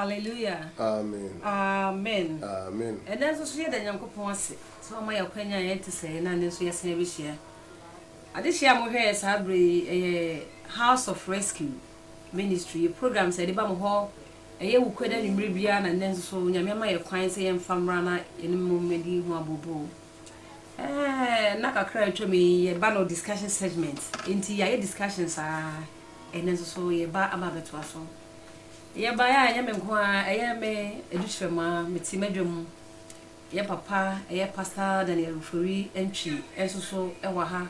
hallelujah amen amen amen ɛnɛ nso so yɛda nyankopɔn ase sɛ ɔma yɛ akwanya yɛn te sɛ na ne nso yɛsan abɛhyia adehyia a mohwɛ yɛ saa berɛ yi ɛyɛ house of rescue ministry yɛ program sɛ ɛde ba mo hɔ Ɛyɛ awuku ɛda anwummere biara na nnɛ nso so Onyame ama yɛn kwan sɛ yɛmfa mmra na yɛne mmɔ mmɔdi ho abooboo. Ɛɛ, nna kakra a atwam yi yɛba no discussion segment, enti yɛayɛ discussion saa ɛnnɛ nso so yɛba aba abɛtoa so. Yɛbaeɛ a ɛnyɛ me nko ara, ɛyɛ me Adu Kyerɛmaa, mete m'adwa mu. Yɛn papa ɛyɛ Pastor Daniel Ofori Antwi nso so wɔ ha.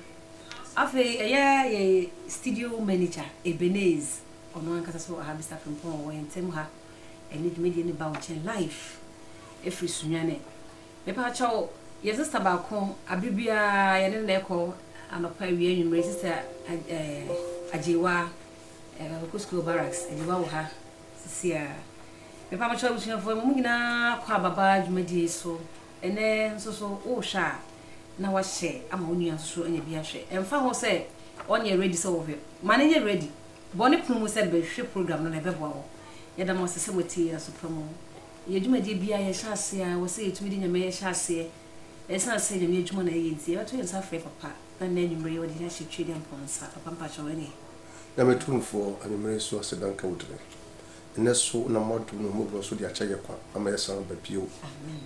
Afei ɛyɛ yɛn studio manager Ebenez, ɔno ankasa nso wɔ ha, Mister Frimpong ɔwɔ yɛn ntam ha. Ɛnnɛ dwumadie no ba wo nkyɛn live ɛfiri Sunyani. Mepaakyɛw, yɛn sister baako, abere biara yɛne no na ɛkɔ, anɔpa, awia, anwummere, Sister Agyewaa, eh, Ɔkɔ School Barracks, Agyewaa wɔ ha. sisiaa. Mpabokyɛw abusuafo, mo nyinaa kɔ aba ba dwumadi so ɛnnɛ nso so wohwɛ a na wahyɛ ama wo nua nso so anya bi ahwɛ. Ɛmfa ho sɛ ɔnyɛ ready sɛ ɔhwɛ, ma no nyɛ ready. Bɔ ne pono mu sɛ bɛhwɛ program no na ɛbɛboa wo. Yɛda mo ase sɛ moatie yɛn aso pa mu. Yɛn dwumadie biara yɛhyɛ aseɛ a ɛwɔ sɛ yɛtumi de Nyame hyɛ aseɛ. Ɛsiane sɛ Nyame adwuma na yɛyɛ nti, yɛbɛto yɛn nsa afrɛ Papa na nnɛ anwumerɛ yi ɔde yɛahyɛ Tweediampɔn nsa. Papa mpakyɛw ɛneɛ. Na me Tumfoɔ, anwummere nso aseda nka wo din. Nnɛ so wonam w'adom ne w'ahummɔborɔ so de akyɛ yɛn kwa ama yɛasan aba bio.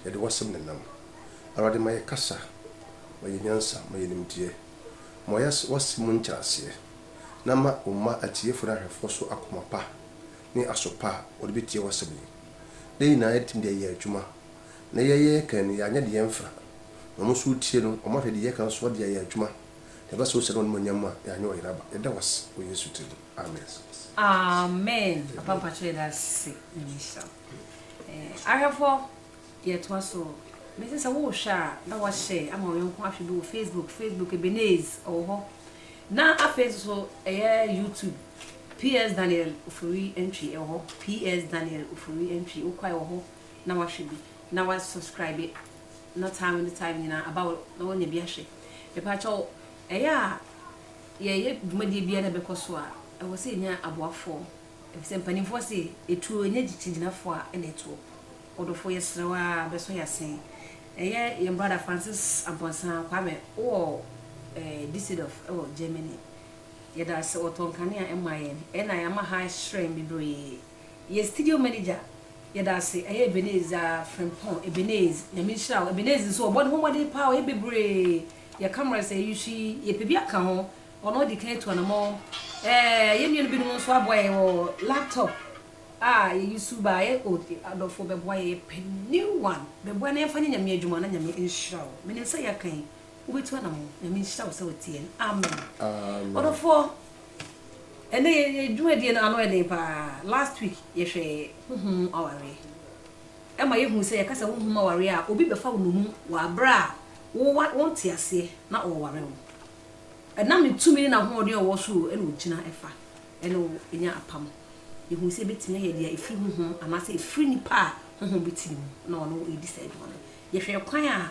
Yɛde w'asɛm na ɛnam. Awurade, ma yɛn kasa, ma yɛn nyansa, ma yɛn nimdeɛ. Ma wɔyɛ w'asɛm mu nkyerɛaseɛ, na ma wo mma atiefoɔ ne ahwɛfoɔ so akoma pa ne aso pa a wɔde bɛtie w'asɛm yi. Dɛn nyinaa yɛatumi de ayɛ adwuma, na yɛyɛ yɛn kan no, yɛanyɛ de yɛn mfra. Na wɔn nso retie no, wɔahwɛ deɛ yɛka nso de ayɛ adwuma. Yɛba sɛ wo sɛ ne w'animuonyam a yɛanyɛ ɔyera ba. Yɛda wo ase wɔ Yesu din mu. Amen. Amen papa mpakyɛ yɛda ase nyame nhyira wo eh ahwɛfoɔ yɛtoa so mese sɛ wohwɛ a na wahyɛ ama ɔyɔnko ahwɛ bi wɔ facebook facebook ebeneze ɔwɔ hɔ na afei nso so ɛyɛ youtube ps daniel ofori ntwi ɛwɔ hɔ ps daniel ofori ntwi wokɔ ɛwɔ hɔ na wahwɛ bi na wa subscribe no time ne time nyinaa aba hɔ na wɔanya bi ahwɛ. Mepakyɛw, ɛyɛ a yɛyɛ dwumadie biara na ɛbɛkɔ so a, ɛwɔ sɛ yɛnya aboafoɔ. Ɛfiri sɛ mpanimfoɔ se, etuo nya kyikyirigyinafoɔ a ɛna ɛtoɔ. Ɔdɔfoɔ, yɛsrɛ wo ara bɛsɔ yɛn ase. Ɛyɛ yɛn brada Francis Amponsah Kwame, wowɔ Düsseldorf wɔ Germany. Yɛda wo ase, wɔtɔɔ nkanea maa yɛn. Ɛna ama ha ahyerɛn bebree. Yɛ studio manager yɛda ase ɛyɛ Ebeneez aa Frimpong Ebeneez Nyame nhyira wo Ebeneez nso ɔbɔ ne ho mmɔden paa ɔyɛ bebree yɛ cameras ɛyɛ Yuhwi yɛpɛ bi aka ho ɔno ɔdi kan atu anamɔn ɛɛ yɛn nua no bi nom nso aboa yɛn wɔ laptop a yɛ use baa yɛ o adɔfoɔ bɛboa yɛn yɛpɛ new one bɛboa na yɛmfa nyɛ Nyame adwuma na Nyame nhyira wo menim sɛ yɛaka yi Wobɛtu anamɔ. Nyame nhyira wo sɛ woteɛ no. Amen. Amen. Ɔdɔfoɔ, ɛnɛ yɛ yɛ dwumadie no ano ɛden paa. Last week yɛhwɛɛ honhom mu awareɛ. Ɛma yɛhuu sɛ yɛka sɛ honhom mu awareɛ a, obi bɛfa wo nnommum wɔ aberɛ a wo wa wonte aseɛ na ɔreware wo. Ɛnam ne tumi ne n'ahoɔden a ɔwɔ soro ɛna ɔgyina ɛfa ɛne wo nya apam. Yɛhuu sɛ ɛbɛtumi ayɛ deɛ ɛfiri honhom anaasɛ ɛfiri nipa a honhom bi te ne mu na ɔne wo ɛredi saa adwuma no. Yɛhwɛɛ kwan a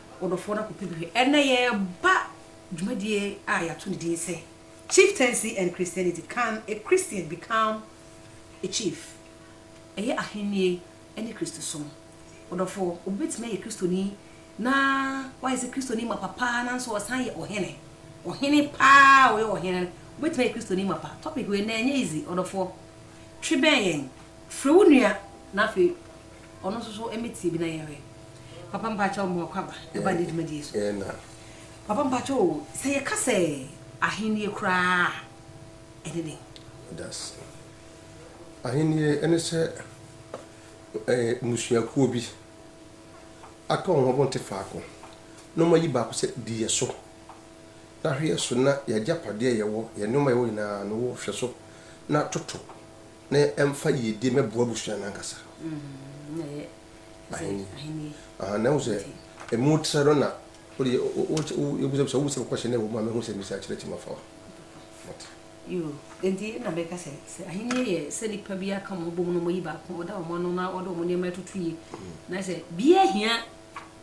wo dɔfoɔ no akɔpɛ bi hwɛ. Ɛnnɛ yɛreba dwumadie a yɛato no din sɛ Chieftaincy and Christianity, Can a Christian Become a Chief? Ɛyɛ Ahennie ne Kristosom. Ɔdɔfoɔ, obi bɛtumi ayɛ Kristoni na wayɛ sɛ Kristoni mapa paa nanso ɔsan yɛ ɔhene, ɔhene paa a ɔyɛ ɔhene no, wobɛtumi ayɛ Kristoni mapa? Topic wei nnɛ ɛnyɛ easy, ɔdɔfoɔ. Twe bɛn yɛn, frɛ wo nua na afei. Ɔno nso so ɛmɛ tie bi na yɛn hwɛ. Papa mpakyɛw mmoa kwa ba ɛba ne dwumadie so. Papa mpakyɛw o sɛ yɛ ka sɛ ahennie koraa a ɛne dɛn? Dase. Ahennie ɛne sɛ ɛɛ mmusuakuo bi aka wɔn ho wɔn te faako na wɔn ayi baako sɛ di yɛ so na hwɛ yɛ so na yɛ agyapadeɛ a yɛ wɔ yɛ nnoɔma a yɛ wɔ nyinaa no wɔ hwɛ so na toto. na ɛmfa yiedie mmɛboa abusua no ankasa. Ahennie. Aha, na ɛhu sɛ ɛmu trɛ no na wode yɛ, wobisa bisa, wobisa question na ɛwɔ mu a mɛhu sɛ misa akyerɛ ti ma fa wa. Mate. Yoo, enti na mɛka sɛ, sɛ ahennie yɛ sɛ nipa bi aka wɔn abom na wɔyi baako, ɔda wɔn ano na ɔde wɔn nneɛma atutu yie, na sɛ biara hia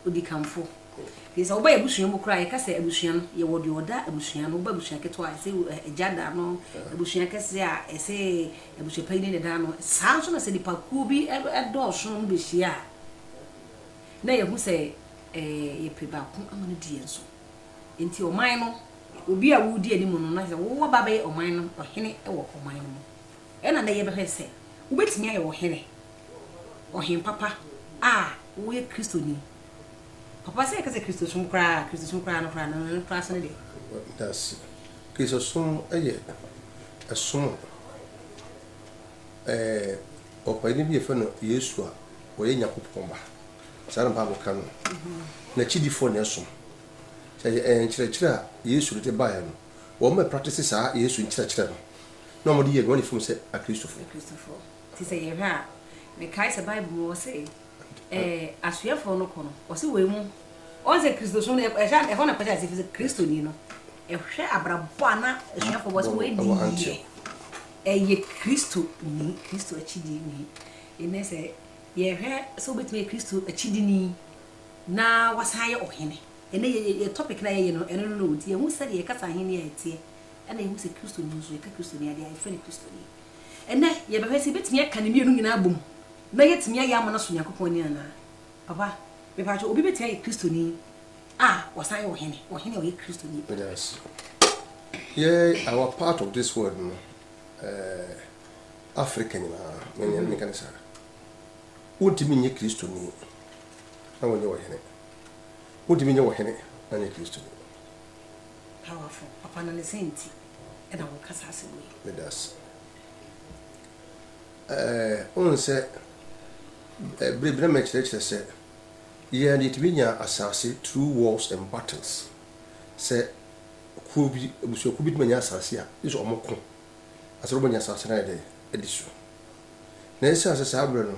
odikanfo. Nti sɛ woba yɛabusua mu koraa a yɛka sɛ abusua no yɛwɔ deɛ ɔda abusua no, woba abusua ketewa a yɛse agya da no, abusua kɛseɛ a yɛse abusua panyini na ɛda no. Saa nso na sɛ nipakuo bi dɔɔso na ɔmo bɛhyia a na yɛhu sɛ yɛpɛ baako ama no adi yɛn so. Nti ɔman no obi a wodi anim no na sɛ wo waba abɛyɛ ɔman no ɔhene wɔ ɔman no mu. Ɛna nɛ yɛbɛhwɛ sɛ wobɛtumi ayɛ ɔhene. Ɔhen papa a woyɛ Kristoni. Papa sɛ yɛka sɛ Kristosom koraa a, Kristosom koraa no koraa no, no koraa so ne deɛ? Danse. Kristosom yɛ ɛsom a ɛɛ ɔpaani bi a yɛfrɛ no Yesu a ɔyɛ Nyankopɔn Ba, saa na Bible ka no, n'akyidifoɔ na ɛsom. Sɛ yɛ ɛɛ nkyerɛkyerɛ a Yesu de de baeɛ no, wɔn mɛ praktise saa Yesu nkyerɛkyerɛ no, na wɔde yɛ nea wɔn ani fam sɛ Akristofoɔ. Akristofoɔ. Te sɛ yɛn ha a, mekae sɛ Bible mu ɔse ɛɛ asuafoɔ no kɔ no, ɔse wei mu, ɔn sɛ Kristosom no ɛhyɛ ɛhɔ na kɔhyɛ ase fi sɛ Kristoni no ɛhwɛ abrabɔ a na asuafoɔ bɔ sɛ wei di yie ɛyɛ Kristo ni, Kristo akyidie ni. Nnɛ sɛ yɛhwɛ sɛ wobɛtumi ayɛ Kristo akyidini na wasan ayɛ ɔhene, ɛnɛ yɛ yɛ yɛ topic no a yɛyɛ no ɛno no na ɔdi, yɛhu sɛdeɛ yɛkasa ahennie a ɛteɛ ɛna yɛhu sɛ Kristoni nso yɛka Kristoni adeɛ a yɛfrɛ no Kristoni. Ɛnnɛ, yɛbɛhwɛ sɛ yɛbɛtumi aka ne mmienu nyinaa abom na yɛatumi ayɛ ama no aso Nyankopɔn ani anaa. Papa, mepakyɛw, obi bɛtumi ayɛ Kristoni a ɔsan yɛ ɔhene, ɔhene a ɔyɛ Kristoni? Yes. Yɛ our part of this world no, eh, Africa nyinaa, me ne meka ne saa. Wontumi nyɛ Kristoni na wonyɛ ɔhene. Wontumi nyɛ ɔhene na nyɛ Kristoni. Powerful. Papa, na ne sɛn nti? na wɔkasa asɛm yi. Meda ase. Ɛɛ, wohu sɛ bere bi na mekyerɛkyerɛ sɛ yɛn yɛtumi nya asase through wars and battles. Sɛ kuo bi, abusuakuo bi tumi nya asase a, gye sɛ wɔko na sɛ wɔnya asase no ayɛ dɛ adi so. Na ɛsiane sɛ saa berɛ no,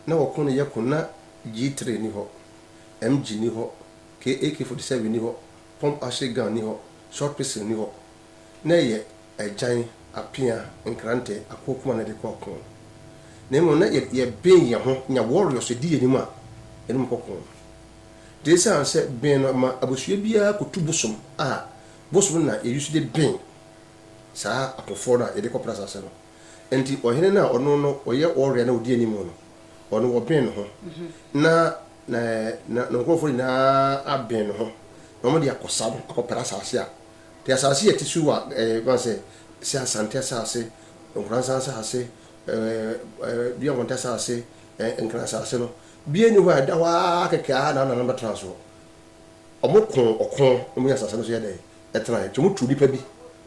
na wɔko no yɛ ko, na G3 ni hɔ, MG ni hɔ, AK47 ni hɔ, Pom ahyɛ gown ni hɔ, short pistol ni hɔ, na ɛyɛ agyan, apea, nkrantɛ, akoa kumaa na ɛde kɔ ɔko. Na mmom na yɛben yɛn ho nya warriors di yɛn anim a yɛne wɔn kɔ ko. Nti esiane sɛ ben no ma abusua biara kotu bosom a, bosom no na yɛ use de ben saa akofoɔ no a yɛde kɔ pra asase no. Enti ɔhene no a ɔno no ɔyɛ ɔwɛn na ɔdi anim no, ɔno ɔbɛn ne ho, na ne ne nkurɔfoɔ nyinaa abɛn ne ho, na wɔde akɔsa no akɔpere asase a te asase a ɛte su a ɛyɛ ma sɛ sɛ asante asase, nkoransa asase, dua mmɔnta asase, nkran asase no, biara nni hɔ a ɛda hɔ ara kɛkɛ ara na wɔn nananom bɛtena soɔ. Wɔkoo ɔko na wɔnyaa asase no so yɛ dɛn? Ɛtenae. Enti wɔtuu nnipa bi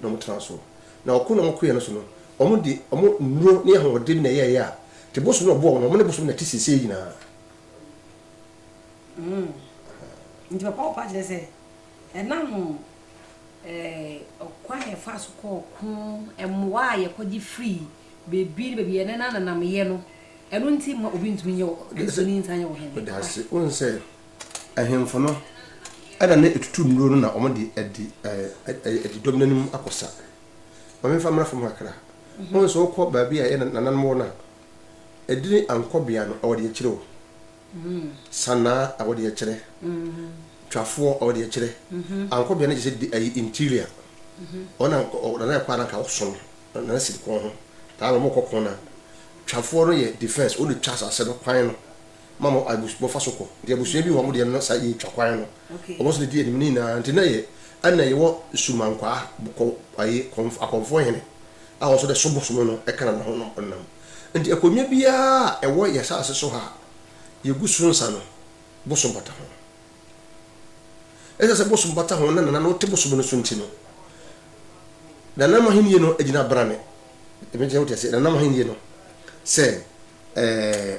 na wɔtenaa so. Na ɔko na wɔkoeɛ no so no, wɔde wɔn nnuro ne ahoɔden na ɛyɛeɛ a, te bosom na ɔboa wɔn, wɔne bosom na ɛte seesei nyinaa. Nti papa wo pa kyerɛ sɛ ɛnam ɔkwan a yɛfaa so kɔɔ ɔko, mmoa a yɛkɔgye firii baabi ne baabi, yɛn nenanenam yɛ no, ɛno nti mma obi ntumi nyɛ wo, Kristoni nsan nyɛ wo hene. Meda wo ase. Wohu sɛ Ahemfo no na na etutu nnuro no na wɔde adi adi dɔm no anim akɔ sa. Ma memfa mmra fam kakra. Wohu sɛ wokɔ baabi a ɛyɛ nananom wɔ no a, edin ankɔbea no wɔde akyerɛ o. Sanaa a wɔde akyerɛ. Twafoɔ a wɔde akyerɛ. Ankɔbea no kyerɛ sɛ ayi interior. Wɔn a nana ɛkɔ a na nka ɔso no, nana siri kɔn ho. Taa na wɔkɔ kɔn no a, twafoɔ no yɛ defense, wɔn na ɛtwa asase no kwan no. ma mo abus mo fa so kɔ nti abusua bi wɔ hɔ mo deɛ no saa yɛ twa kwan no wɔn nso na di anim ne nyinaa nti na yɛ ɛna yɛ wɔ sumankwaa kɔ ayi kɔnf akɔnfoɔ hene a wɔn nso dɛ so bosom no ɛka na na ho nom ɔnam nti akonnwa biara a ɛwɔ yɛ saase so ha a yɛ gu so nsa no bosom bata ho ɛsɛ sɛ bosom bata ho na nana no te bosom no so nti no nanam ahenni no agyina brane ɛmɛ nti na wote ase nanam ahenni no sɛ ɛɛ.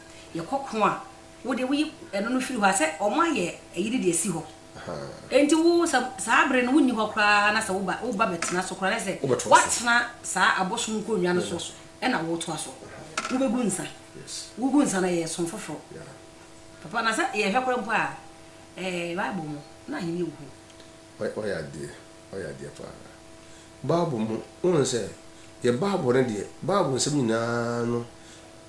yɛ kɔkɔn a wo deɛ woyi ɛno no firi hɔ a sɛ wɔn ayɛ ayi no de asi hɔ nti wo sɛ saa bere no wonni hɔ koraa na sɛ wo ba wo ba bɛtena so koraa na sɛ watena saa abosom nkonnwa no so ɛna wɔtoa so wobɛgu nsa wogu nsa na yɛ som foforɔ papa na sɛ yɛhwɛ koraa mpo a ɛɛ bible mu na ahenni wɔ hɔ ɔyɛ adeɛ ɔyɛ adeɛ paa bible mu wɔn sɛ yɛ bible no deɛ bible nsɛm nyinaa no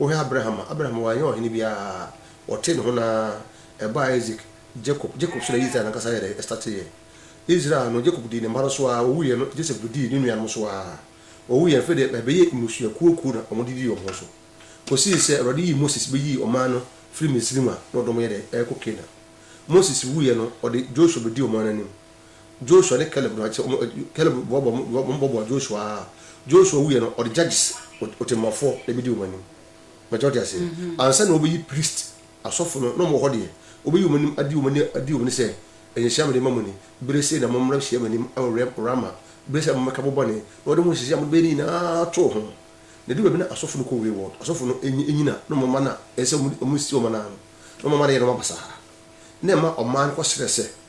Wohwɛ Abraham a, Abraham wannyɛ ɔhene biara, ɔtee ne ho no ara, ɛbaa Isaac, Jacob, Jacob so na Israel no ankasa yɛ dɛn? Ɛstateeɛ. Israel no, Jacob dii ne mma no so ara, ɔwuiɛ no, Joseph bɛdii ne nuanom so ara, ɔwuiɛ no, afei deɛ ɛbɛyɛɛ mmusua kuokuo na wɔdidii wɔn ho so, kɔsii sɛ Awurade yii Moses bɛyii ɔman no firii Misraim a na ɔde wɔn yɛ dɛn? Ɛrekɔ Canaan. Moses wuiɛ no, ɔde Joshua bɛdii ɔman no anim. Joshua ne Caleb no a, kyerɛ wɔn, Caleb boaboa wɔn, wɔn boaboa Joshua ara. Joshua wuiɛ no, ɔde judges, ɔtemmuafoɔ, na ɛbɛdi wɔn anim. Mɛkyɛ wɔte aseɛ. Mm -hmm. Ansa na wɔbɛyi priest, asɔfo no, na wɔn wɔ hɔ deɛ, wɔbɛyi wɔn anim adi wɔn ani adi wɔn ani sɛ, ɛyɛ nhyira mede ma mo ni, bere sei na mommra hyia m'anim wɔ Rama, bere sei na mommɛka mo bɔne, na wɔde mo nhyehyɛe a mode bɛyɛ no nyinaa too ho. Na ɛdu baabi na asɔfo no kɔ wayward, asɔfo no nyina na wɔn mma no a ɛsɛ sɛ wɔn si wɔn anan no, na wɔn mma no yɛ nneɛma basaa, na ɛma ɔman no kɔsrɛ sɛ,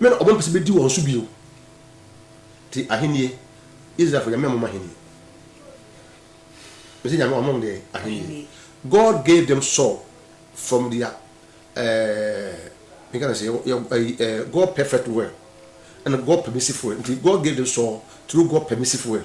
Me na wɔmpɛ sɛ bedi wɔn so bio. Te ahenni, Israelfo Nyame ama wɔn ahenni. Mese Nyame wama wɔn deɛ ahenni. God gave them Saul from their ɛɛ eh, me ka na sɛ yɛ ɛyi eh, God perfect will and God permissive will. Nti God gave them Saul through God permissive will.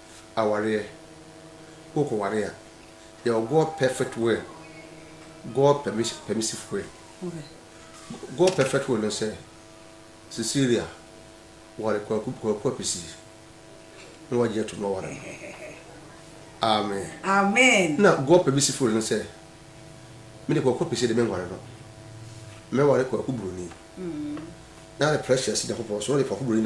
awareɛ wo kɔ ware a yɛwɔ God perfect will God permissive will God perfect will no sɛ Cecilia ware Kwaku Apisi na wagye atum na waware no amen na God permissive will no sɛ me de Kwaku Apisi de me nware no mɛware Kwaku Buroni na de precious Nyankopɔn so na de Kwaku Buroni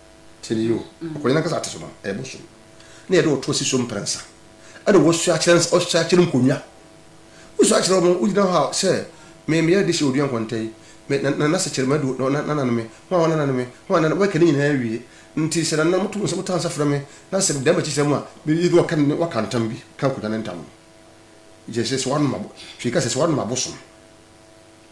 Tie no yie o. Ɔkɔnyan ankasa ate so no, ɛyɛ bosom. Na yɛde ɔtoɔ si so mprɛnsa. Ɛna wɔsua akyerɛ ɔsua akyerɛ nkonnwa. Wosua akyerɛ wɔn, wogyina hɔ a sɛ me meyɛ de hyɛ odua nkɔnta yi, me na na sɛ kyerɛ me adu na na nana me, ho a wɔn nana me, ho a nana wɔbɛka ne nyinaa awie. Nti sɛ nana moto nsa motɔ nsa frɛ me na sɛ meda m'akyi sɛ mu a, me yɛ bi wɔka ne wɔka ntam bi ka nkonnwa no ntam no. Yɛ sɛ sɛ wɔanom abo, hwee ka sɛ sɛ wɔanom abosom.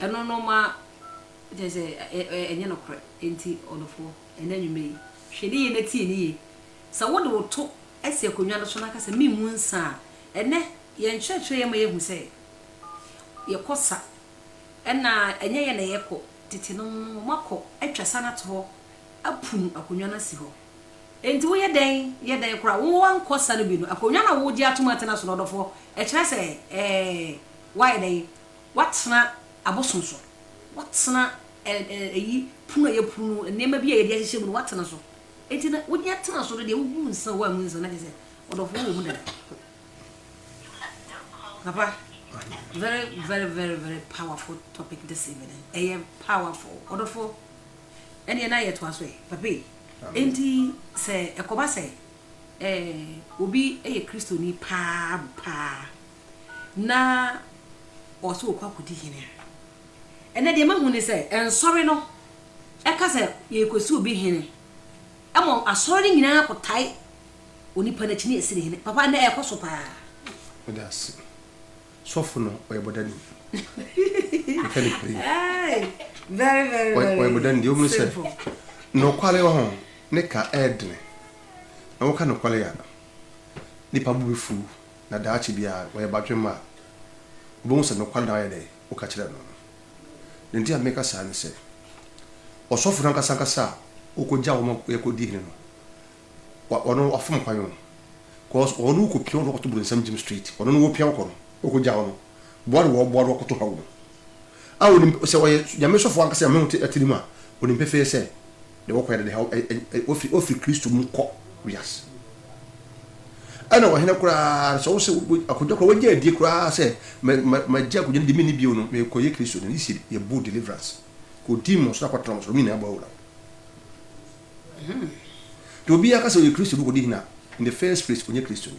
Ɛno no ma kyerɛ sɛ ɛnyɛ nokorɛ. Enti ɔdɔfoɔ, ɛnnɛ anwummerɛ yi, hwɛ ne yie na tie ne yie. Sɛ wode wo to asi akonnwa no so na ka sɛ, Memmu nsã a, ɛnnɛ yɛn nkyerɛkyerɛeɛ ma yɛhu sɛ yɛkɔ sa. Ɛnna ɛnyɛ yɛn na yɛkɔ. Tetenom no, wɔakɔ atwa sa no ato hɔ, apunu akonnwa no asi hɔ. Enti woyɛ dɛn? Yɛ dɛn koraa? Woankɔ sa no bi no, akonnwa no a woregye atom atena so no, ɔdɔfoɔ, ɛkyerɛ sɛ ɛɛ? Woayɛ dɛ yi? Woatena abosom so? Woatena ɛ ɛ ɛyi pono a ɛyɛ pono no nneɛma bi a yɛde ahyehyɛ mu no woatena so? Enti na wode atena so no deɛ wogu nsa o woangu nsa na kyerɛ sɛ ɔdɔfoɔ wɔ mu dada. Papa, very very very very powerful topic this evening. Ɛyɛ powerful ɔdɔfoɔ. Ɛneɛ na yɛtoa so ɛ papa yi. Enti sɛ ɛkɔba sɛ ɛɛ obi yɛ Kristoni paa paa. na ɔwɔ sɛ ɔkɔ akɔdi hene a, ɛnɛ deɛ mahu ne sɛ ɛnsɔre no ɛka sɛ yɛrekɔsi obi hene. Ɛmɔ asɔre no nyinaa kɔtae onipa no akyi ne ɛsi ne hene. Papa ɛnɛ ɛkɔ so paa. Meda ase. Sɔfo no ɔyɛ bɔdani. Meka ne pere. Very very very. Ɔyɛ bɔdani deɛ ɔmu sɛ nɔkwale wɔ ho ne ka ɛɛdene. Na wɔka nɔkwale a nipa bo bɛfu Na daakye biara wɔyɛ badwemma a, wobehu sɛ nokware na wɔayɛ dɛ? Woka kyerɛɛ no no. Nea enti a meka saa ne sɛ, ɔsɔfo no ankasa ankasa a wokogyaw wɔn ma wɔkɔdii hene no, ɔno wafom kwan o, cause ɔno wokopia ɔno kɔto bronsam gyem straight, ɔno no wopia kɔ no, wokogyaw no. boa no wɔ ɔboa no ɔkoto haw mu a onim sɛ ɔyɛ Nyame sɔfo ankasa Nyame ho te atirim a onim pefee sɛ deɛ wɔkɔyɛ no ne haw ofiri ofiri Kristo mu kɔ wiase ɛna ɔhene koraa sɛ wosɛ akonnwa koraa wagya adie koraa sɛ magya akonnwa no de menni bio no mekɔyɛ Kristo no yisi yɛbu deliverance kɔdi mmɔ so na kɔtena mo so no nyinaa bɔ awura nti obi aka sɛ ɔyɛ Kristo no kɔdi hena in the first place ɔnyɛ Kristo ni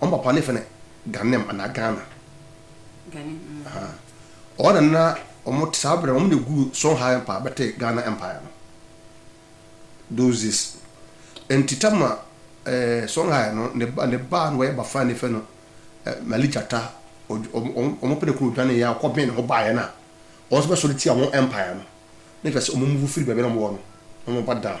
Wɔn papa ne fɛ no Ghanem anaa Ghana. Ghanem mm. Aha. Wɔn na na wɔn saa berɛ wɔn na egu Songhai Empire bɛte Ghana Empire no. Those days. Nti tama ɛɛ eh, Songhai no ne ba ne ba na wɔyɛ bafan ne fɛ no eh, Mali Gyata wɔn wɔn pɛ ne kuro dwane yɛ akɔ bɛn ne ho baayɛ na wɔn nso bɛsɔre tia wɔn Empire no. Ne fɛ sɛ wɔn move firi baabi na wɔn wɔ no na wɔn ba down.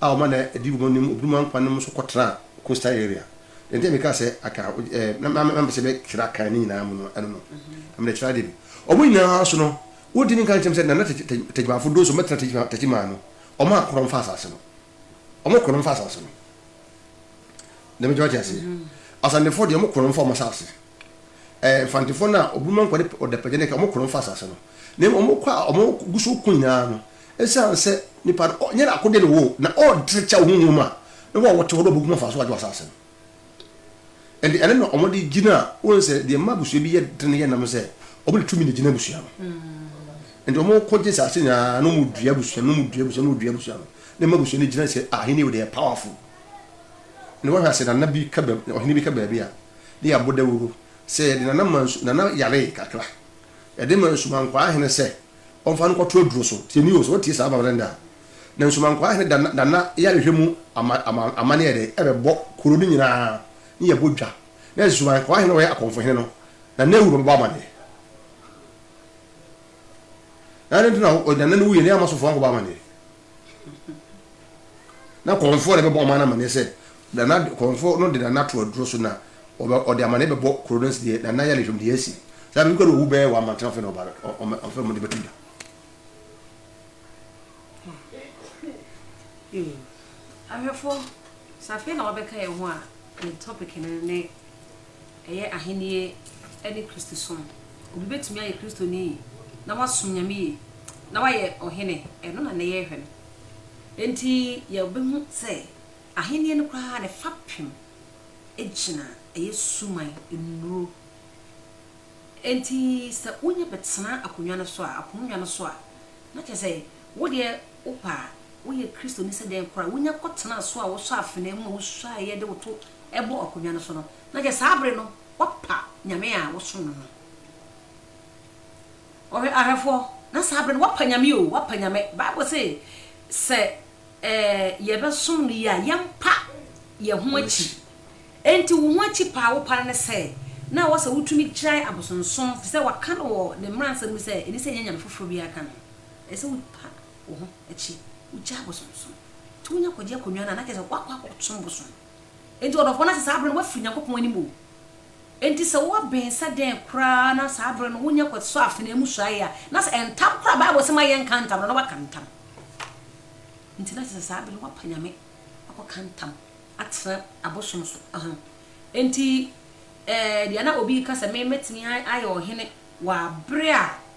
a ɔma na edi wɔn anim obinom ankwa no mu nso kɔtraa coastal area. Deɛ nti a meka sɛ aka a wogye ɛɛ na na mepɛ sɛ mɛkyerɛ akan ne nyinaa mu no ɛno no na mede kyerɛ adeɛ bi. Wɔn nyinaa so no wodi ne nka nkyɛm sɛ Nana Tegyimafo Doso mmɛtena Tegyima Tegyimaa no wɔn a korɔn fa asase no wɔn korɔn fa asase no na mɛgye wate aseɛ Asantefoɔ deɛ wɔn korɔn fa wɔn asase ɛɛ Mfantefoɔ no a obinom ankwa de ɔdapagya ne ka wɔn korɔn fa asase no na mmom wɔn kɔ a wɔn gu so ko nyinaa no Esiane sɛ nipa no ɔnyɛ n'akode ne wo na ɔnte kyɛw honhom mu a, na wɔn a wɔte hɔ no behu mfaso a agye wɔ asase no. Ɛnde ɛno na wɔde gyina a wohu sɛ deɛ ɛma abusua bi yɛ den yɛ nam sɛ wɔde tumi na gyina abusua no. Ɛnde wɔko gye asase nyinaa na wɔdua abusua no, wɔdua abusua no, wɔdua abusua no na ɛma abusua no gyina sɛ ahenni wɔ deɛ powerful. Ɛnde wɔhwɛ ase nana bi ka baabi ɔhene bi ka baabi a ne yɛabɔ dawuro sɛ yɛde nana ma nsu nana yaree kakra yɛde ma nsumankwaa hene sɛ ɔmfa no nkɔto aduro so. Tie nie o, sɛ wotie saa babrɛ no dɛ a, na Nsumankwaa hene Danna yarehwɛ mu amane yɛ dɛn? Ɛbɛbɔ kuro no nyinaa ne yɛbɔ dwa. Na Nsumankwaa hene a ɔyɛ akɔmfo hene no, na n'awu na ɔbɛbɔ amaneɛ. Na adɛn nti na Danna no wuiɛ na yɛn Amasofoɔ ankɔbɔ amaneɛ? Na kɔnfoɔ na ɛbɛbɔ ɔman no amaneɛ sɛ, Nana, kɔnfoɔ no de Nana ato aduro so na ɔde amaneɛ bɛbɔ kuro no sɛ deɛ Nana yale hwɛm deɛ asi. Saa bɛbi kora na ɔwu bɛyɛ wɔ amantene afei na ɔfrɛ mo de bɛto dwa. Ahwɛfoɔ, sɛ afei na wabɛka yɛn ho a, yɛn topic no ne ɛyɛ Ahenni ne Kristosom. Obi betumi ayɛ Kristoni na wasom Nyame yiye na wayɛ ɔhene. Ɛno na nnɛ yɛrehwɛ no. Enti yebehu sɛ Ahenni no koraa ne fapem gyina ɛyɛ suman nnuru. Enti sɛ wunya bɛtena akonnwa no so a, apongua no so a, na kyerɛ sɛ wo deɛ Wopɛ a, woyɛ Kristoni sɛ dɛn koraa a, wunya kɔtena so a wosɔ afenaa mu a wusuaeɛ de wo to bɔ akonnwa no so no, na kyɛ saa bere no woapa Nyame a wosom no no. Ɔhwɛ, ahwɛfoɔ, na saa bere no woapa Nyame o, woapa Nyame. Bible se, sɛ eh, yɛbɛsom no yie a, yɛmpa yɛn ho akyi. Enti wo ho akyi pa a wopa no ne sɛ, na ɛwɔ sɛ wotumi gyae abosonsom, efisɛ wɔaka no wɔ Ne mmaransɛm mu sɛ, ɛni sɛ ɛnyɛ nyame foforɔ biara ka ne ho. Ɛsɛ sɛ wopa wo ho akyi, wugyaa abosonsom, nti wonya kwagye akonnwa no a, na kyerɛ sɛ woakɔ akɔsom bosom. Enti ɔdɔfoɔ no ase saa bere no, woafiri Nyankopɔn anim o. Enti sɛ woaben sɛ dɛn koraa na saa bere no wonya kɔsɔ afenaa mu suae a, na sɛ ntam koraa a Bible se ma yɛnka ntam no, na woaka ntam. Enti na kyerɛ sɛ saa bere no woapa Nyame, woakɔka ntam atena abosom so. Ahaa. Enti, eh, deɛ na obi reka sɛ me mɛtumi ayɛ ɔhene wɔ abere a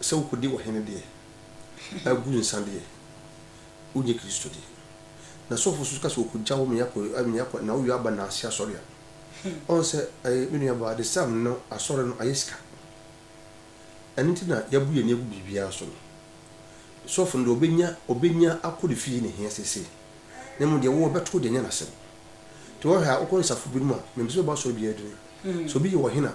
sɛ wokodi ɔhene deɛ, a gu nsã deɛ, wonyɛ Kristo deɛ. Na sɔfo nso ka sɛ wɔkɔgya wo mea kɔ mea kɔ na woyɔ aba nnaase asɔre a, ɔn sɛ ɛɛ me nua baa this time no asɔre no ayɛ sika. Ɛno nti na yɛabu yɛn ani agu biribiara so no. Sɔfo no deɛ ɔbɛnya ɔbɛnya akɔ ne fie na ɛhia seesei. Na mmom deɛ wo ɔbɛto de anya n'asɛm. Nti wohwɛ a wokɔ nsafo binom a, mempɛ sɛ mɛba asɔre biara din. Sɛ obi yɛ ɔhene a,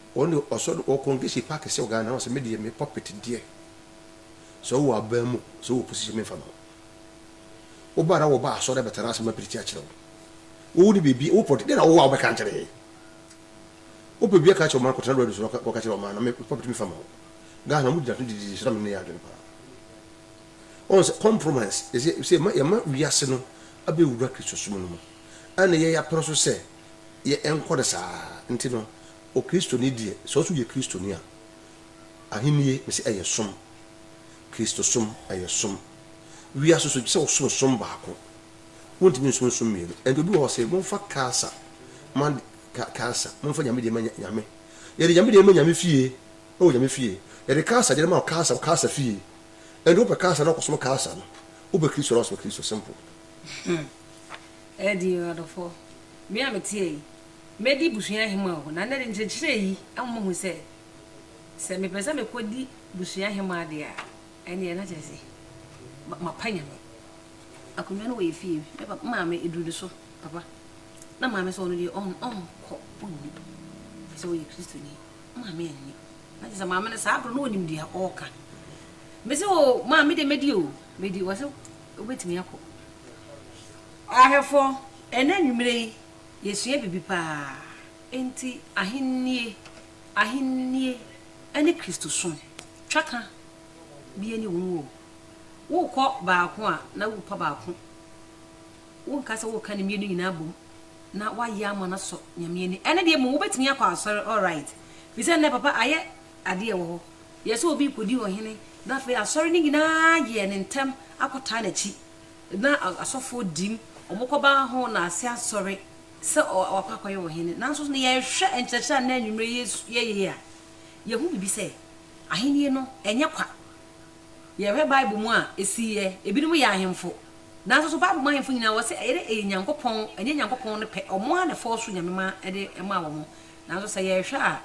Wɔn de ɔsɔ do wɔkɔ nkesi pa kɛse wɔ Ghana na wɔsɛ me deɛ me pulpit deɛ sɛ wowɔ aban mu sɛ wowɔ position memfa ma wo. Wo ba na wɔba asɔre abɛtena ase ma pirikyi akyerɛ wo. Wowo ne biribi wo pɔliti deɛ na wowɔ a wobɛka nkyerɛ yɛn. Wopɛ biribi aka akyerɛ ɔman kɔtena do adusu na kɔka kyerɛ ɔman na me pulpit memfa ma wo. Ghana wɔn gyina so didi so na me ne yɛn adwene paa. Wɔn sɛ compromise yɛsɛ sɛ yɛma wiase no abɛwura Kristosom no mu ɛna yɛn yɛapene so sɛ yɛ ɛnkɔ no saa nti no, Okristoni deɛ, sɛ ɔso yɛ Kristoni a, Ahennie, mese ɛyɛ som. Kristo som, ɛyɛ som. Wiase so, gye sɛ wosom som baako. Wontumi nsom som mmienu. Ɛnti obi wɔ hɔ ɔse, momfa Kaasa ma Kaasa, momfa Nyame deɛ ma Nyame. Yɛde Nyame deɛ ma Nyame fie, na wɔ Nyame fie. Yɛde Kaasa deɛ no ma Kaasa, wɔ Kaasa fie. Ɛnti wopɛ Kaasa no, kɔsom Kaasa no. Wopɛ Kristo no, akɔsom Kristo. Simple. Ɛɛdin oo adɔfoɔ, me a meteɛ yi, mɛdi busuahema oo, na nnɛ de nkyerɛkyerɛ yi ama mahu sɛ, sɛ mepɛ sɛ mekɔdi busuahema deɛ a, ɛnneɛ na kyerɛ sɛ, mapa Nyame. Akonnwa no wɔ yɛn fie, me papa, me maame aduru ne so, papa. Na maame sɛ ɔno deɛ ɔn, ɔnkɔ, ɔnni, ɛfiri sɛ ɔyɛ Kristoni. Maame anni. Na kyerɛ sɛ maame no saa berɛ no na ɔnim deɛ ɔreka. Mese oo, maa me deɛ mɛdi oo, mɛdi. Ɔse. Wobɛtumi akɔ. Ahwɛfoɔ, ɛnnɛ anwummerɛ yi, yɛsua biribi pa ara. Enti Ahennie, Ahennie ne Kristosom, twaka bi nni ho o. Worekɔ baako a, na worepa baako. Wonka sɛ woreka ne mmienu nyinaa abom na woayɛ ama no asɔ Nyame ani. Ɛnnɛ deɛ mmom wobɛtumi akɔ asɔre, alright, firi sɛ ɛnnɛ papa ayɛ adeɛ wɔ hɔ. Yɛ sɛ obi rekɔdi ɔhene, na afei asɔre no nyinaa yɛɛ no ntɛm akɔtaa n'akyi, na asɔfoɔ di mu, wɔkɔba ho na ase asɔre sɛ wakɔ akɔyɛ ɔhene. Nanso na yɛhwɛ nkyerɛkyerɛ a nnɛ anwummerɛ yi yɛyɛ yi a, yɛhu biribi sɛ ahennie no ɛnyɛ kwa. Yɛhwɛ Bible mu a, ɛsiiɛ, ebinom yɛ ahemfo. Nanso so Bible mu ahemfo nyinaa wɔse ɛyɛ dɛ ɛyɛ Nyankopɔn, ɛnyɛ Nyankopɔn no pɛ, wɔn ara na ɛfɔɔso Nyame ma ɛde maa wɔn. Nanso sɛ yɛhwɛ a,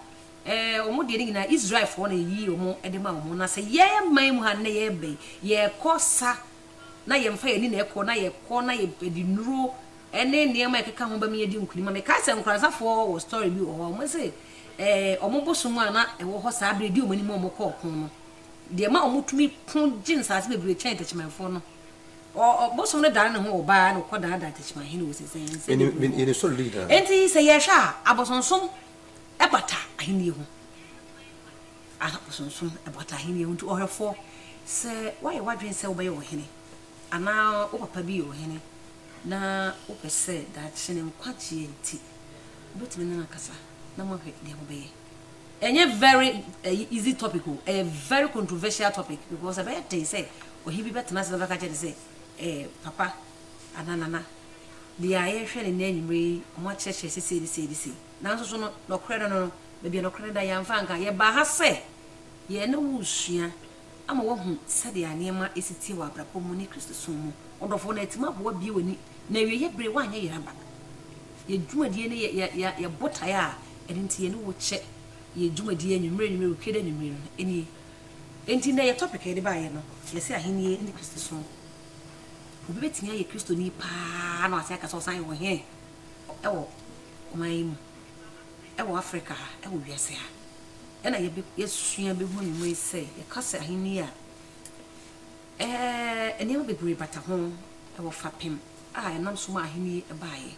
Ɛɛ, wɔn deɛ no nyinaa Israelfoɔ na yɛyi wɔn de ma wɔn. Na sɛ yɛn man mu ha nnɛ yɛreba yi, yɛkɔ sa na yɛmfa yɛn ani na ɛkɔ, na yɛkɔ na yɛde nnuro ne nneɛma a ɛkeka ho bɛma yɛadi nkunim. Mekae sɛ Nkoranzafoɔ wɔ story bi wɔ hɔ a, wɔse ɛɛ, wɔn bosom a na ɛwɔ hɔ saa berɛ a ɛdi wɔn anim a wɔkɔ ɔko no, deɛ ɛma wɔtumi ko gye nsaase bebree kyɛn Techimanfoɔ no, ɔ, ɔ, bosom no dane ne ho wɔ baa na ɔkɔdaadaa Techimahene wɔ sɛsɛsɛdeɛ bi wɔ hɔ. Enti sɛ yɛhwɛ a, abosonsom ɛbata ahennie ho. Abosonsom, ɛbata ahennie ho. Nti ɔhwɛfoɔ, sɛ woayɛ w'adwene sɛ wobɛyɛ ɔhene, anaa wo papa bi yɛ ɔhene, na wopɛ sɛ daakye ne nkwagyeɛ nti, wobɛtumi ne no akasa na moahwɛ deɛ mobɛyɛ. Ɛnyɛ very ɛyi easy topic o, ɛyɛ very controversial topic because ɛbɛyɛ den sɛ ɔhene bi bɛtena ase na ɔbɛka kyerɛ no sɛ ɛɛ papa, Ana Nana, deɛ a yɛrehwɛ no nnɛ anwummerɛ yi, wɔakyerɛkyerɛ sɛ sei ne sei ne sei. Nanso so no, nɔkorɛ no no no, baabi a nɔkorɛ no da, yɛamfa anka. Yɛbaa ha sɛ yɛn ne wo resua ama woahu sɛdeɛ a nneɛma si teɛ wɔ abrabɔ mu ne Kristosom mu. Ɔdɔfoɔ, na yɛatumi aboa abue w'ani, na awieeɛ berɛ woanyɛ yɛn aba. Yɛn dwumadie ne yɛ, yɛ, yɛ, yɛn botaeɛ a ɛno nti yɛne wo kyɛ yɛn dwumadie anwummerɛ anwummerɛ, wɔ Kwiada anwummerɛ no, nie. Enti nnɛ yɛn topic a yɛde baeɛ no, yɛse Ahennie ne Kristosom. Obi betumi ayɛ Kristoni paa na wate aka sɛ ɔsan yɛ ɔhene wɔ ɔman yi mu, wɔ Afrika ha, wɔ wiase ha. Ɛna yɛasua behu anwummere sɛ yɛka sɛ ahenni a, ɛɛ, nneɛma bebree bata ho wɔ fapem a ɛnam so ma ahenni yi baeɛ.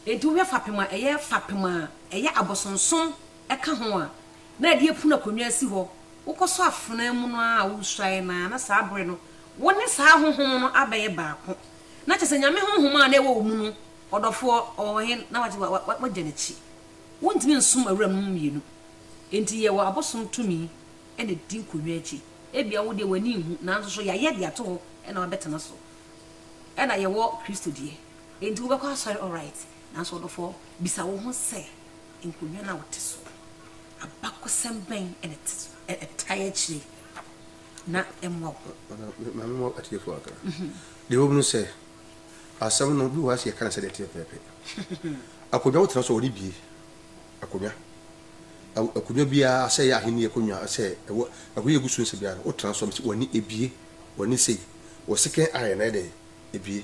Enti wohwɛ fapem a ɛyɛ fapem a ɛyɛ abosonsom ka ho a, na ɛde apunu akonnwa asi hɔ, wokɔsɔ afenaa mu no ara a woresuae no ara, na saa bere no wo ne saa honhom no abɛyɛ baako. Na kyerɛ sɛ Nyame honhom a na ɛwɔ wo mu no, ɔdɔfoɔ, ɔwɔ he? Na wagye wagya n'akyi. Wontumi nsom awuranom mmienu. Enti yɛwɔ abosom tumi na ɛdi nkonnwa akyi. Ebia wo deɛ w'ani nhu, nanso so yɛayɛ de ato hɔ na wabɛtena so. Ɛna yɛwɔ Kristo deɛ. Enti wobɛkɔ asɔre, alright, nanso ɔdɔfoɔ, bisa wo ho sɛ, Nkonnwa no a wɔte so no, abakɔsɛm bɛn na ɛte so, ɛtae akyire, na ɛmmoa wo? Ma memmɔ atiefo akra. Deɛ ɛwom ne sɛ, asɛm no, obi wɔ ha sɛ yɛka no sɛdeɛ ɛteɛ pɛpɛɛpɛ. Akonnwa a wotena so a wɔde bue akonnwa, akonnwa biara sɛ ɛyɛ ahenni akonnwa, sɛ ɛwɔ akonnwa a ɛgu so nsɛ biara no, wotena so a, w'ani bue, w'ani sei, wɔ second eye no ayɛ dɛn? Ebue.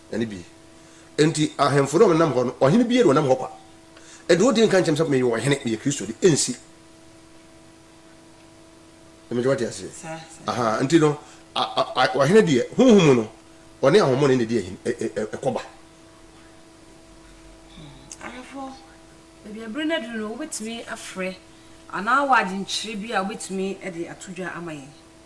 Ɛno bi nti ahemfo no a wɔnam hɔ no, ɔhene biara a ɔnam hɔ kwa de odin nka nkyerɛ me sɛ meyɛ ɔhene, meyɛ Kristoni. Ensi. Ɛmɛ gye wate aseɛ. Aha, nti no, a, a, a, ɔhene deɛ, honhom mu no, ɔne ahommɔne na ɛdi ahene, ɛ, ɛ, ɛ, ɛkɔba. Ahemfo, baabi a bere no aduru no, wobɛtumi afrɛ anaa wɔ adwenkyerɛ bi a wobɛtumi de ato dwa ama yɛn?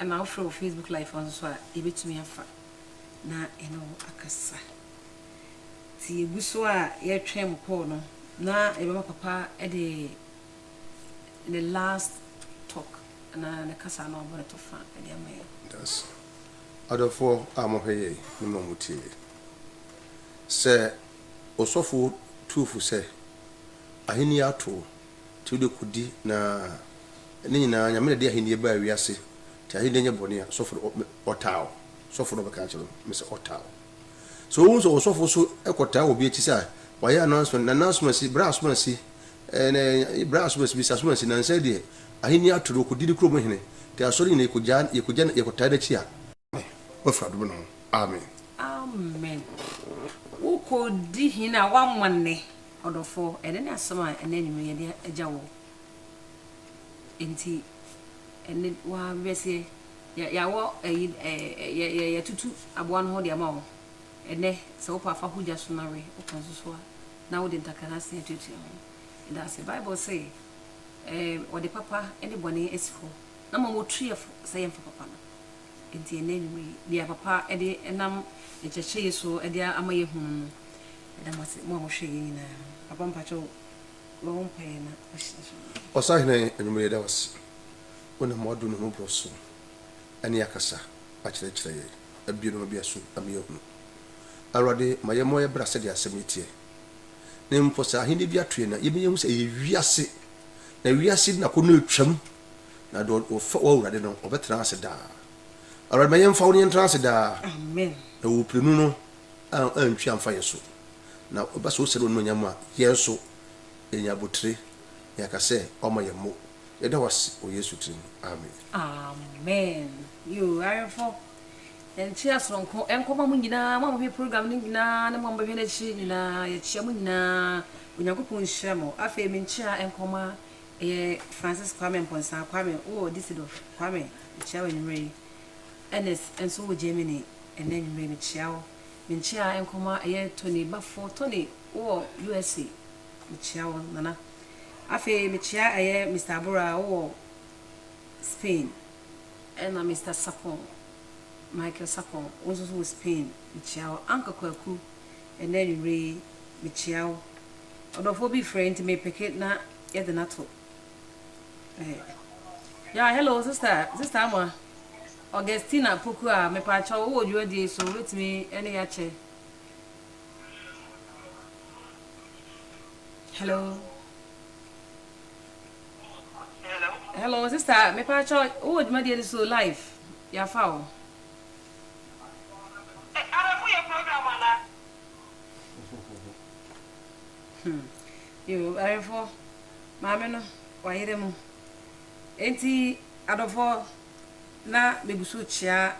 Ɛna wofrɛ wɔ Facebook live hɔ nso a, yɛbɛtumi afa na yɛne wo akasa. Nti yɛgu so a yɛretwɛn mo call no na yɛbɛma papa de ne last talk anaa ne kasa no abɔ ne tɔfa de ama yɛn. Dase. Adɔfoɔ a mohwɛ yei ne mo a motie yei. Sɛ Osɔfo tu fo sɛ, Ahennie ato o. Nti wode kodi na ne nyinaa Nyame na de ahenniɛ baa wiase nti ahenniɛ nyɛ bɔne a sɔfo no ɔtaa wo sɔfo na ɔbɛka akyerɛ wo me sɛ ɔtaa wo sɛ wohu sɛ ɔsɔfo so kɔtaa obi akyi sɛ wayɛ announcement na n'asomasi bra asomasi ɛɛ bra asomasi bi sɛ asomasi na nsɛ deɛ ahenniɛ ato no ɔkɔdi ne kurom hene nti asɔre nyina yɛkɔgya yɛkɔgya yɛkɔtaa n'akyi a Amen wafiri adom no ho Amen. Amen wokɔ di hene a wama nnɛ ɔdɔfɔ ɛnɛ ne asɛm a ɛnɛ anwumere yɛde agya wɔ nti ɛnɛ wa bɛseɛ yɛawɔ ɛyi ɛɛ yɛtutu aboa no ho deɛ ama wɔ ɛnɛ sɛ wopɛ afa ho gya so na we wopɛ nso so a na wode ntakra no asen atuatua ho ɛda ase bible sɛ ɛɛ wɔde papa ne bɔne asi hɔ na ma wɔtuɛ fo sɛ yɛmfa papa no Enti ɛnnɛ anwummerɛ yi, deɛ Papa de nam Ne nkyerɛkyerɛ yi so de ama yɛahunu no, yɛda mo ase, mo a mohwɛ yei nyinaa. Papa mpakyɛw, bɔ wo mpaeɛ na hyira hyira yɛn. Ɔsahene, anwummerɛ yi yɛda wo ase, wonam w'adom ne w'ahummɔborɔ so ne akasa akyerɛkyerɛ yɛn, abue nneɛma bi aso ama yɛahunu. Awurade, ma yɛmmɔ yɛn bra sɛdeɛ asɛm yi teɛ, na mpo sɛ ahennie bi ato yɛn a, yɛmma yɛnhu sɛ ɛyɛ wiase, na wiase nnako no retwam. Na deɛ ɔfa w'Awurade no, ɔbɛtena ase daa. Awurade, ma yɛmfa wo na yɛntena ase daa. Amen. Na wo prenu no antwi amfa yɛn so. Na ɛba sɛ ɔsɛne w'anuonyam a, yɛn nso, yɛnya abotire, na yɛaka sɛ, Ɔma yɛn mo. Yɛda wo ase wɔ Yesu tiri mu. Amen. Amen. Yoo, awɛmfo, yɛnkyea soronko nkɔma mo nyinaa, mo a mohwɛ program no nyinaa, ne mo a mobɛhwɛ no akyire nyinaa, yɛkyea mo nyinaa, Onyankopɔn nhyira mo. Afei menkyea nkɔma Ɛyɛ Francis Kwame Mponsa Kwame wɔ Düsseldorf Kwame, mekyia wo anwummerɛ yi. Ernest nso wɔ Germany ɛnnɛ anwummerɛ yi, mekyia wo. Menkyia nkɔmɔ a ɛyɛ Tony Bafo Tony wowɔ USA, mekyia wo Nana. Afei mekyia ɛyɛ Mister Abura wowɔ Spain, ɛna Mister Sapon Michael Sapon wo nso so wɔ Spain, mekyia wo Uncle Kwaku ɛnnɛ anwummerɛ yi, mekyia wo. Ɔdɔfoɔ bi frɛɛ nti me peke na yɛde no ato eh, ya hello sister sister ama Augustina poku a mepaakyɛ wowɔ dwumadie yi so wobɛtumi ɛne yɛakyɛ hello hello sister mepaakyɛ wowɔ dwumadie no so live yɛafa o Hmm. Yoo, ayerefoɔ, maame no, wayere mo. Enti, adɔfoɔ, na megu so rekyea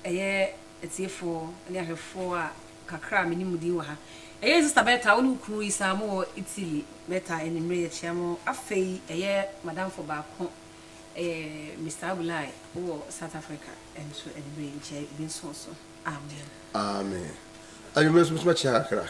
ɛyɛ atiefoɔ ne ahwɛfoɔ a kakra a menim mo din wɔ ha. Ɛyɛ Sista Berta, wo ne wo kunu yi saa, mowɔ Italy. Berta, anwummere yɛkyea mo. Afei, ɛyɛ madamfo baako, ɛyɛ Mister Abulai, wowɔ South Africa nso, anwummere yi nkyia yi, ebi nso wɔ so. Amen. Amen. Anwummere nso, mɛtumi akyea kakra?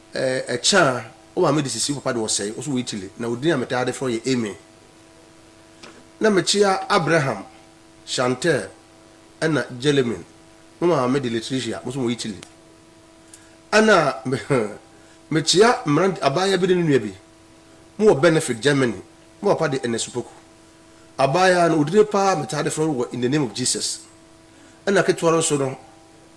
Ɛkyɛ a, wo maame de sisi wo papa de ɔsɛe, ɔso wɔ Italy, na wo din a metaa de frɛ wo yɛ Amy. Na mekyea Abraham, Chantelle, ɛna Gelmine. Mo maame de Letitia, moso wɔ Italy. Ɛna mekyea mmerante, abaayewa bi ne ne nua bi, mowɔ Benefit, Germany. Mo papa de Ernest Opoku. Abaayewa no, wo dini paa a metaa de frɛ wo wɔ In the Name of Jesus. Ɛna ketewa no nso no,